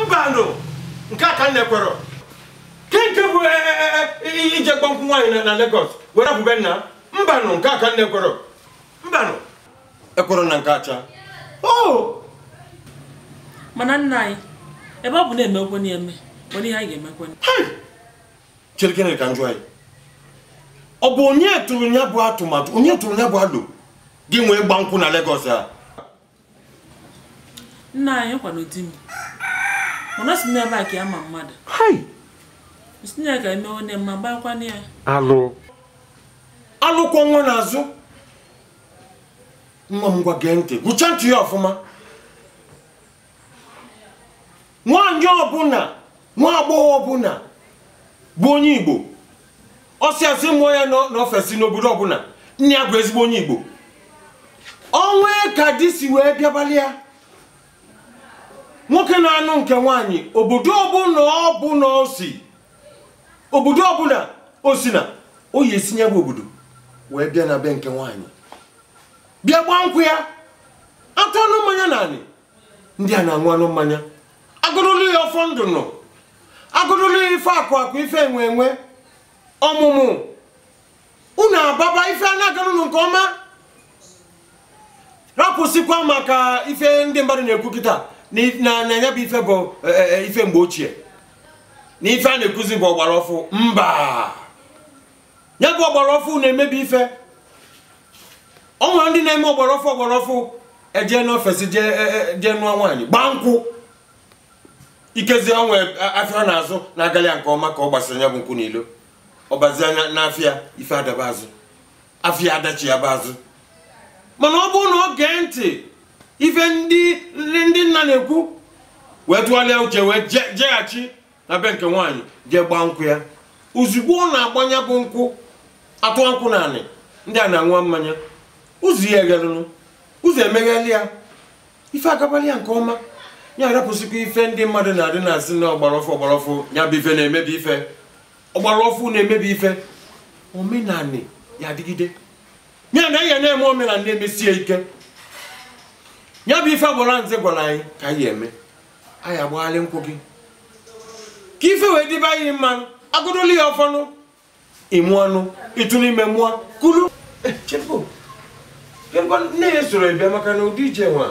mbanụ nke a ka m na-ekwerọ ke nke bụ e, e, e, ije gba nkwụ nwaanyị na Lagos wee rapụ be nna mbanụ nke a ka m na-ekwerọ mbanụ ekwerọ m na nke a cha oh! mana nna anyị ebe ọ bụ na e megokwa ya eme nwere ihe anyị ga-emekwe cherekene ka m jụọ gị ọ bụ onye tụrụ ya bụ atụmatụ onye tụrụ ya bụ alo e ji wee gbaa nkwụ na Lagos a nna anyị ọ kwanụ di m mana sị na ebe a ka ya ma mmadụ sị na ya ga-eme onye mma gbakwana ya alụ alụ kwọ nwa n'azụ nwa m ngwa gee ntị gụcha ntị gị ọfụma nwaanyị ọbụla nwa agbọghọ ọbụla bụ onye igbo ọ sị a sị mụọ ya n'o- n'ofesi n'obodo ọbụla nne ya bụ ezigbo onye igbo o nwee ka di si wee bịabalị ya nwoke na-anụ nke nwaanyị obodo ọbụla ọbụla o si obodo ọbụla o si na ọ ya-esi ya bụ obodo wee bịa na be nke nwaanyị bịa gbaa nkwụ ya atụanụ mmanya n'anị ndị nna aṅụanụ mmanya agọnụlụ ya ọfọ ndụ unu agọnụlụ ya ife akụ akụ ife enwe enwe ọmụmụ unu ababa ife a na-agara unu nke ọma rapụsịkwa maka ife ndị mmadụ na-ekwu kịta na if- na na ya bụ ife bụ e, e, e, ife mgbe ochie na ife a na-ekwuzi bụ ọgbara ọfụ mba ya bụ ọgbara ọfụ na-emebi ife o nwere ndị na-eme ọgbara ọfụ ọgbara ọfụ ejee n'ofesi e, e, jee nụọ nwaanyị gbaa nkwụ ikezi o nwee afịa ọ na-azụ na-agali ya nke ọma ka ọ gbasịrị ya bụ nkwụ n'ilo ọ bazia n'afịa ife adaba azụ afịa adachịghaba azụ mana ọ bụrụ na o gee ntị ife ndị nna na-ekwu wee tụgharịa uche wee jeghachi na be nke nwaanyị jee gbaa nkwụ ya ozugbo ọ na-agba ya bụ nkwụ atụa nkwụ n'anị ndị nna aṅụa mmanya ụzọ ya eghelụnụ ụzọ emegheli ya ife agabalị ya nke ọma ya arapụsịkwa ife ndị mmadụ na-adị na-asị na ọgbara ọfụ ọgbara ọfụ ya bụ ife na-emebi ife ọgbara ọfụ na-emebi ife omenanị ya-adịgide ya na ya na-eme omenanị na-emesi ya ike ya bụ ife agbara nze gwara anyị ka anyị eme anyị agbaghalị nkwụ gị ka ife wee dịbe anyị mma agọdolu ya ọfọnụ ị mụanụ ị tụọnụ ime mụọ kulu eh, nne gị esorọ bịa maka na ụdị ije nwa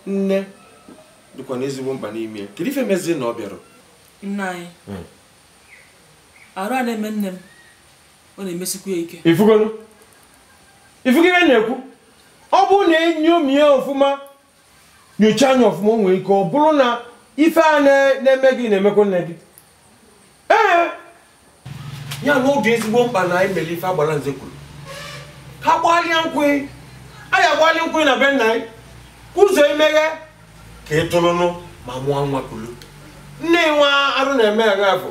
nne dịkwa na ezigbo mkpa n'ime ya kedu ife mezi na ọ bịarọ nna anyị hmm. arụ a na-eme nne m ọ na-emesikwa ya ike ị fụgo ị fụgo ife m na-ekwu ọ bụrụ na enyomi ya ọfụma nyocha anya ọfụma o nwere ike ọ bụrụ na ife a na- na-eme gị na-emekwa nne gị ee ya na ọ dị ezigbo mkpa na anyị mere ife agbara nze kwuru ka a gbalịa nkwụ anyị agbalị nkwụ na be nna anyị ụzọ emeghe ka ị tụrụnụ ma mụọ nwa kulu nne nwa arụ na-eme ya bụ